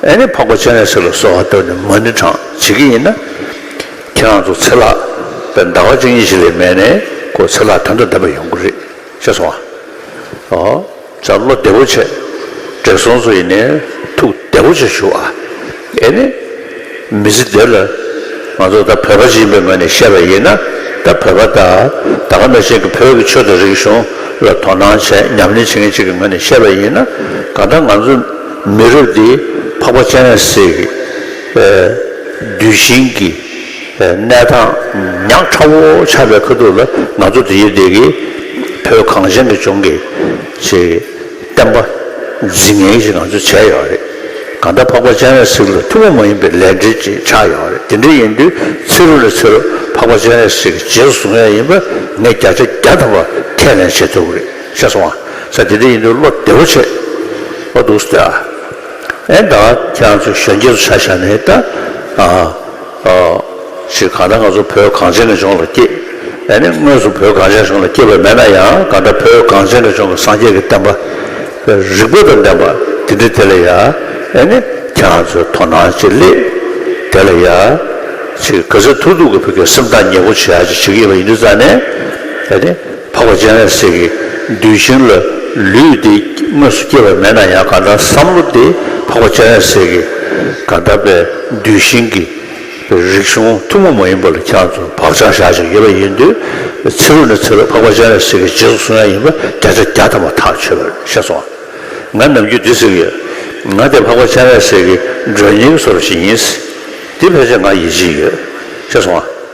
ཨེ་ནི་འཕགས་པ་སྤྱན་རས་གཟིགས་ལ་སོགས་ཧ་ཏོ་ནི་མ་ནི་གྲངས་བྱེད་ཀྱི་ཡིན་ན། ཁྱེད་རང་ཚོ་ཚེ་ལག་པས་འདའ་བ་ཅན་གཉིས་ཤིག་ལས་མེད་ནས་ཁོ་ཚེ་ལག་དོན་དུ་འདས་པ་ཡོང་གི་རེད་བཤད་སོང་ཨ། ཨོ། ཅག་བློ་བདེ་བོ་བྱེད། བགྲེས་སོང་ཚོ་ཡིན་ནའི་ཐུགས་བདེ་བོ་བྱེད་ཞུ་ཨ། ཨེ་ནི། མི་ཚེ་འདིར། ང་ཚོ་ད་བོད་པ་ཞིག་ཡིན་པའི་ངོས་ནས་བཤད་པ་ཡིན་ན་ད་བོད་པ་དག་ད་ག་ནས་ཅིག་གི་བོད་ཀྱི་ཆོས་དང་རིག་གཞུང་ལ་དོ་སྣང་བྱས་ཉམས་ལེན་བྱེད་མཁན་ཅིག་གི་ངོས་ནས་བཤད་པ་ཡིན་ན་གང་ལྟར་ང་ཚོ་མི་རབས་འདི་འཕགས་པ་སྤྱན་རས་གཟིགས་ཀྱི་གདུལ་ཞིང་གི་གནས་དང་ཉག་ཕྲ་བོ་ཆགས་པའི་ཁ་ཐུག་ལ་ང་ཚོ་འདིའི་སྡེ་དགེ་བོད་གངས་ཅན་གྱི་ལྗོངས་ཀྱི་ཆེས་བསྟན་པ་རྫིག་ངན་ཞིག་ང་ཚོས་བྱས་ཡོད་རེད། གང་ལྟར་འཕགས་པ་སྤྱན་རས་གཟིགས་ལ་ཐུ་བོ་མ་ཡིན་པའི་ལས་འབྲེལ་ཅིག་ཆགས་ཡོད་རེད་དེ་འདྲ་ཡིན་དུས་ཚེ་རུ་ལ་ཚེ་རུ་འཕགས་པ་སྤྱན་རས་གཟིགས་ཀྱི་རྗེས་སུ་བཟུང་ཡ་ཡིན་པ་ངས་བརྒྱ་ཆ་བརྒྱ་ཐོབ་པ་ཁས་ལེན་བྱེད་ཐུབ་ཀྱི་རེད། ཤ་སོང་ཨ། ས་དེ་འདྲ་ཡིན་དུས་བློ་བདེ་བོ་བྱེད། བློ་སྡུག་སྟེ་ཨ། ཨེ་ད། ཁྱེད་རང་ཚོས་གཞོན་སྐྱེས་ཚོ་ཆ་བཞག་ནས་ད། ཨ། ཨོ། ཞེས་གང་ལྟར་ང་ཚོ་བོད་གངས་ཅན་རང་བྱུང་ལ་སྐྱེས། ཨེ་ནི་དངོས་སུ་བོད་གངས་ཅན་རང་བྱུང་ལ་སྐྱེས་པ་མེད་ན་ཡང་གང་འདྲ་བོད་གངས་ཅན་རང་བྱུང་གི་སངས་རྒྱས་ཀྱི་བསྟན་པ། རིག་པ་དང་ལྡན་པ་འདི་འདྲ་དེ་ལ་ཡ། ཨེ་ནི། ཁྱེད་རང་ཚོས་དོ་སྣང་ཅིག་སླེབས། དེ་ལ་ཡ། ཆེ་གེ་ག་ཚོས་ཐུགས་སྡུག་གི་བུ་གའི་སེམས་ཐག་ཉེ་པོ་བྱེད་ཨ་ཅིག་བྱེད་ཀྱི་ཡོད་པ་ཡིན་དུས་རྩ་ནས། ཨེ་ནི། འཕགས་པ་སྤྱན་རས་གཟིགས་ཀྱི་གདུལ་ཞིང་ལ་ལུས་འདི་དངོས་སུ་སྐྱེ་བ་མེད་ན་ཡང་གང་ལྟར་བསམ་བློ་དེ་འཕགས་པ་སྤྱན་རས་གཟིགས་ཀྱི་གང་ལྟར་པའི་གདུལ་ཞིང་གི་རིག་གཞུང་ཐུན་མོང་མ་ཡིན་པ་ལ་ཁྱོད་ཚོ་བག་ཆགས་བཞག་ཅིག་ཡོད་པ་ཡིན་དུས་ཚེ་རུ་ནས་ཚེ་རུ་འཕགས་པ་སྤྱན་རས་གཟིགས་ཀྱི་རྗེས་སུ་བཟུང་ཡ་ཡིན་པ་བརྒྱ་ཆ་བརྒྱ་ཐམ་པ་ཐག་ཆོད་པར་ཤེས་སོང། ང་ནམ་རྒྱུན་འདི་ཟེར་གྱི་ཡོད། ང་དེ་འཕགས་པ་སྤྱན་རས་གཟིགས་ཀྱི་མགྲོན་སྙིང་གསོ་རུ་ཞིག་ཡིན། འདི་ཕལ་ཆེར་ང་ཡིད་ཆེས་ཡོད། ཤེས་སོང།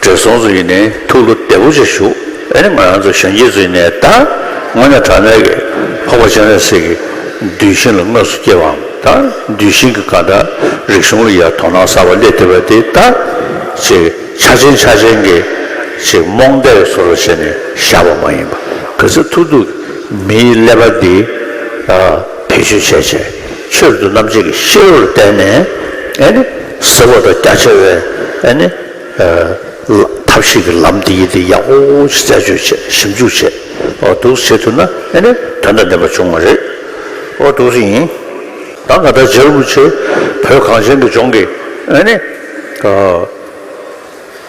བགྲེས་སོང་ཚོ་ཡིན་ནའི་ཐུགས་བློ་བདེ་པོ་ཅིག་ཞུགས་ཨེ་ནི་ང་རང་ཚོ་གཞོན་སྐྱེས་ཚོ་ཡིན་ནའི་ད་དངོས་ནས་དྲང་གནས་ཀྱི་ཕག་པ་སྤྱན་རས་གཟིགས་ཀྱི་གདུལ་ཞིང་ལ་དངོས་སུ་སྐྱེས་པའམ་ད་གདུལ་ཞིང་གི་གང་དྲག་རིག་གཞུང་ལ་ཡར་དོ་སྣང་གསར་པ་སླེབས་བསྡད་པ་དེ་ད་ཅིག་ཆ་ཆེན་ཆ་ཆེན་གྱི་ཅིག་རྨོངས་དད་ཀྱི་ཟོར་ལ་བྱས་ནས་བཞག་པ་མ་ཡིན་པ་ག་ཚོད་ཐུག་ཐུག་གི་མིའི་ཀླད་པ་འདི་བེད་སྤྱོད་བྱས་བྱས་ཕྱིར་དུ་རྣམ་འབྱེད་ཀྱི་ཤེས་རབ་ལ་བརྟེན་ནས་ཨེ་ནི། ཟེར་བ་འདྲ་རྒྱ་ཆེ་བས་ཨ་ནི། ཐབས་ཤེས་ཀྱི་ལམ་འདི་ཡིན་འདི་ཡག་པོ་ཞིག་རྩད་གཅོད་བྱས་ཞིབ་འཇུག་བྱས་འདུག་བྱེད་ཐུབ་ན་ཨ་ནི་དོན་དང་ལྡན་པ་འབྱུང་བ་རེད་འདུག་རེད་ཡིན། ད་ང་ད་ཇར་མུ་ཆེ་བོད་གངས་ཅན་གྱི་ལྗོངས་ཀྱི་ཨ་ནི།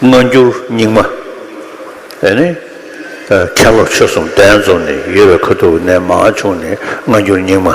སྔ་འགྱུར་རྙིང་མ་ཨ་ནི། མཁན་སློབ་ཆོས་གསུམ་ལྡན་འཛོམས་ནས་ཡོད་པའི་ཁ་ཐུག་གི་གནས་མང་ཆུང་ནི་སྔ་འགྱུར་རྙིང་མ།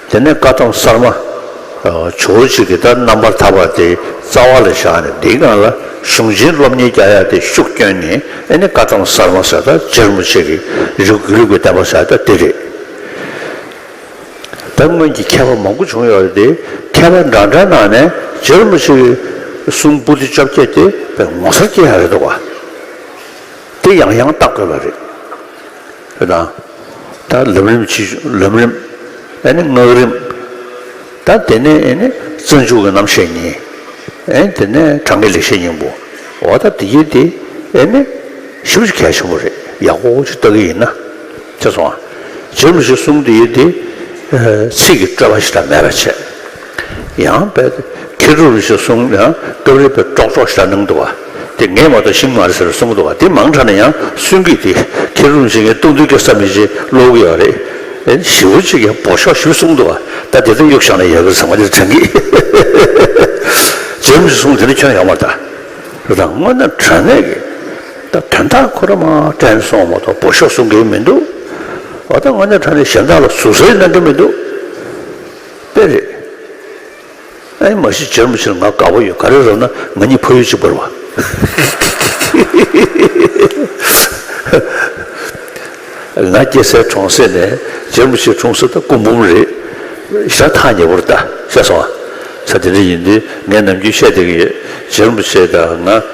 དེ་ནས་བཀའ་ཐམ་གསར་མ། བྱུ་བོ་གཅིག་གི་ལྟར་རྣམ་པར་ཐར་པ་དེའི་རྩ་བ་ལ་བཞག་ནས་འདིའི་སྒང་ལ་གཞུང་ཆེན་སློབ་གཉེར་བརྒྱ་ཡར་དེ་ཤུགས་བསྐྱོན་ནས་ཨེ་ནི་བཀའ་ཐམ་གསར་མ་ཟེར་ད་སྦྱར་མོ་ཆེ་གི་རིགས་དགུའི་ལུགས་ཀྱི་བསྟན་པ་ཟེར་ད་དེ་རེད། ད་སྔོན་གྱི་མཁས་པ་མང་པོ་བྱུང་ཡོད་དེ་མཁས་པ་འདྲ་འདྲ་གནང་ནས་སྦྱར་མོ་ཆེ་གི་གསུང་སྤུ་ཏི་བཅོ་བརྒྱད་དེ་བས་ངོ་མཚར་སྐྱེ་ཡག་རེད་འདུག་བ་དེ་ཡང་ཡང་བལྟ་དགོས་པ་རེད། པ་དང། ད་ལམ་རིམ་ཕྱིས་བྱུང་ལམ་རིམ། ཨེ་ནི་སྔགས་རིམ། ད་དེ་ནས་ཨེ་ནི་བརྩོན་འགྱུར་གྱི་རྣམ་བཤད་གཉིས། ཨེ་ནི་དེ་ནས་གྲངས་ཀྱི་ལེགས་བཤད་སྙིང་པོ། འོ་ད་དེ་ཡིན་ཏེ། ཨེ་ནི། ཞིབ་ཆ་གལ་ཆེན་པོ་རེད་ཡག་པོ་ཅིག་ལྟ་གི་ཡིན་ན། དེ་སོང། རྗེས་མ་ཞིག་གསུམ་དུ་ཡིན་ཏེ། ཚིག་གི་སྤྲོས་པ་ཞིག་དང་མེད་པར་བྱས། ཡང་དཔལ་དེ་ཁྱེད་ཀྱིས་རུ་ཞེས་གསུངས་ཡང་སྐབས་རེ་པས་ཀྲོག་ཀྲོག་ཞར་སྣང་དུ་བ། དེ་ངས་མ་གཏོགས་ཤིང་མ་རེད་ཟེར་གསུངས་དུ་བ་དེ་མང་དྲགས་ན་ཡང་གསོན་གྱིས་དེ་ཁྱེད་རུ་ཞེས་ངས་ལྟུང་དུས་སྐྱོ་ས་མེད་ཅེས་ཀློག་གི་ཡོད་རེད། བཞི་བོ་གཅིག་ཡང་བོ་ཤོག་བཞི་གསུངས་དུ་བ་ད་དེ་ཙམ་གཡུག་བཞག་ན་ཡག་གི་ཟེར་མ་དེར་དྲན་གིས། རྗེས་མི་གསུངས་དེ་ནི་ཁྱོད་ཡག་མ་ད་རང་དངོས་ན་དྲན་ནས་གི་ད་དོན་དག་ཁོ་ར་མ་དྲན་སོང་མ་གཏོགས་བོ་ཤོག་གསུང་གིན་མི་འདུག་བ་ད་དངོས་ན་དྲན་ནས་གཞན་དག་ལ་ཟུར་ཟའི་གནང་གིན་མི་འདུག། དཔེ་རེད། ཨེ་མ་གཞི་བྱེར་མ་བྱེར་ང་དགའ་པོ་ཡོད་ག་རེ་རོགས་ན་ང་གཉིས་ཕ་ཡུལ་གཅིག་པར་བ། ང་སྐྱེ་སའི་གྲོང་གསེབ་ནས་བྱེར་མ་བྱེར་གྲོང་གསེབ་དང་སྐུ་འབུམ་རེད། ཞག་ཐག་ཉེ་པོར་ལྟ་ཤེས་སོང་ང་ཚ་དེ་འདྲ་ཡིན་དུས་ངས་ནམ་རྒྱུན་བཤད་བསྡད་ཀྱི་ཡོད་བྱེར་མ་བྱེར་དང་ང།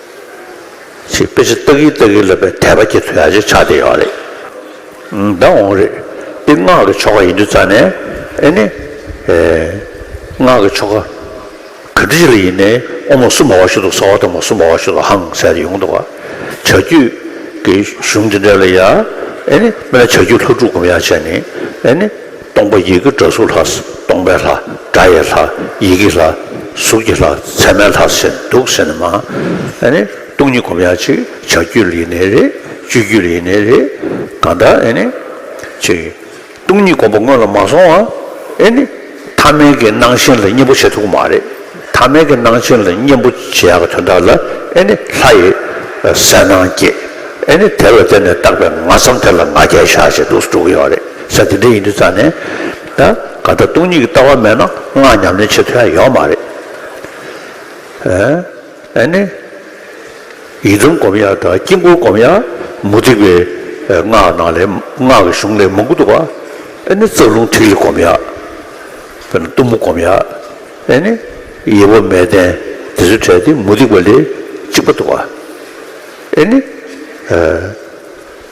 ཞེས་དཔེ་ཆ་བཏགས་ཀྱིན་བཏགས་ཀྱིན་ལབ་པའི་དད་པ་སྐྱེ་ཚུལ་ཡང་ཅིག་ཆགས་བསྡད་ཡོད་རེད། ད་འོང་རེད། འདི་སྔགས་ཀྱི་ཆོ་ག་ཡིན་དུས་རྩ་ནས། ཨེ་ནི། སྔགས་ཀྱི་ཆོ་ག། ག་དུས་ལ་ཡིན་ནའི་ཨོ་མ་སུ་མ་བ་ཤུ་དོག་ས་བ་དོག་མ་སུ་མ་བ་ཤུ་དོག་ཧང་ཟེར་ཡོང་དོག་ག། བྱ་རྒྱུད་ཀྱི་གཞུང་འདི་འདྲ་ལ་ཡང། ཨེ་ནི། མི་ལ་བྱ་རྒྱུད་ལྷོ་འབྲུག་སྒོམ་ཡང་བྱས་ནས། ཨེ་ནི། སྟོང་པ་ཡི་གེ་སྒྲ་གཟུགས་ལྷ། སྟོང་པའི་ལྷ། སྒྲ་ཡི་ལྷ། ཡི་གེའི་ལྷ། གཟུགས་ཀྱི་ལྷ། མཚན་མའི་ལྷ་ཟེར་ནས་འདུག་ཟེར་ནས་མ་ཨ་ནི་སྟོང་ཉིད་སྒོམ་ཡ་ཅིག་བྱ་རྒྱུ་ལ་ཡེ་ནས་རེད་སྤྱོད་རྒྱུ་ལ་ཡེ་ནས་རེད་གང་ལྟར་ཨེ་ནི། ཅེས། སྟོང་ཉིད་སྒོམ་པ་སྔོན་ལ་མ་སོང་བ་ཨེ་ནི། ཐ་མལ་གྱི་སྣང་ཞེན་ལ་གཉེན་པོ་བྱེད་ཐུབ་ཀྱི་མ་རེད། ཐ་མལ་གྱི་སྣང་ཞེན་ལ་གཉེན་པོ་བྱེད་ཡག་གི་དོན་དག་ལ་ཨེ་ནི་ལྷ་ཡི་གསལ་སྣང་སྐྱེས་ཨེ་ནི་དེ་ལ་བརྟེན་ནས་བཏགས་པའི་ང་བསམ་དེ་ལ་ང་རྒྱལ་བཞག་ཅེས་འདུག་སུ་འགྲོ་གི་ཡོད་རེད། ས་དེ་འདྲ་ཡིན་དུས་རྩ་ནས། ད་ག་ད་སྟོང་ཉིད་ཀྱི་ལྟ་བ་མེད་ན་སྔགས་ཉམས་ལེན་བྱེད་ཐུབ་ཡ་ཡོད་མ་རེད། ཨ་ནི། ཡི་དམ་བསྒོམ་ཡ་དང་དཀྱིལ་འཁོར་བསྒོམ་ཡ་མུ་སྟེགས་པའི་སྔགས་ནང་ལས་སྔགས་ཀྱི་གཞུང་ལས་མང་པོ་འདུག་ཨ་ནི་རྩ་རླུང་ཐིག་ལེ་བསྒོམ་ཡ། དཔེར་ན་གཏུམ་མོ་བསྒོམ་ཡ། ཨ་ནི། ཡེ་བ་མས་བརྟན་དེ་ཚོ་བྲལ་ཏེ་མུ་སྟེགས་པ་ལས་གཅིག་པ་འདུག་ཨ་ནི།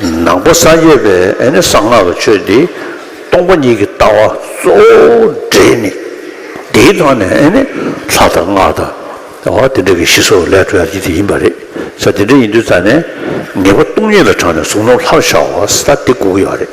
ནག་པོ་ས་བརྒྱད་པའི་གསང་སྔགས་ཀྱི་ཆོས་འདི་སྟོང་པ་ཉིད་ཀྱི་ལྟ་བ་གཙོ་བོའི་འབྲས་ནི། འདིའི་ཐོག་ནས་ལྷ་དང་སྔགས་དང་བ་དེ་འདྲ་གི་ཤི་སྲོག་ལས་གྲོལ་བ་ཉིད་དེ་ཡིན་པ་རེད། ས་དེ་འདྲ་ཡིན་དུས་རྩ་ནས་ངེས་པ་སྟོང་ཉིད་ལ་དྲངས་ནས་གཟུགས་སྣང་ལྷར་ཤར་བ་ས་དེ་དགུ་ཡོད་རེད།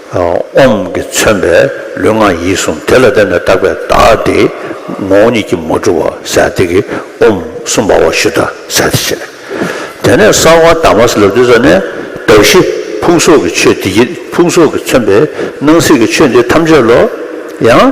ཨོམ་གྱིས་མཚོན་པའི་ལུས་ངག་ཡིད་གསུམ་དེ་ལ་བརྟེན་ནས་བཏགས་པའི་བདག་དེ་ངོ་བོ་ཉིད་ཀྱིས་མ་གྲུབ་བར་ཟད་དེ་གི་ཨོམ་གསུམ་པ་བ་ཞུ་དང་ཟད་དེ་བྱས། དེ་ནས་གསང་བ་དྭངས་མ་ཟླ་བདུད་རྩ་ནས་གདགས་གཞི་ཕུང་སོགས་ཀྱི་ཆོས་འདི་ཡིད་ཕུང་སོགས་ཀྱིས་མཚོན་པའི་སྣང་སྲིད་ཀྱི་ཆོས་འདི་ཐམས་ཅད་ལོ། ཡང།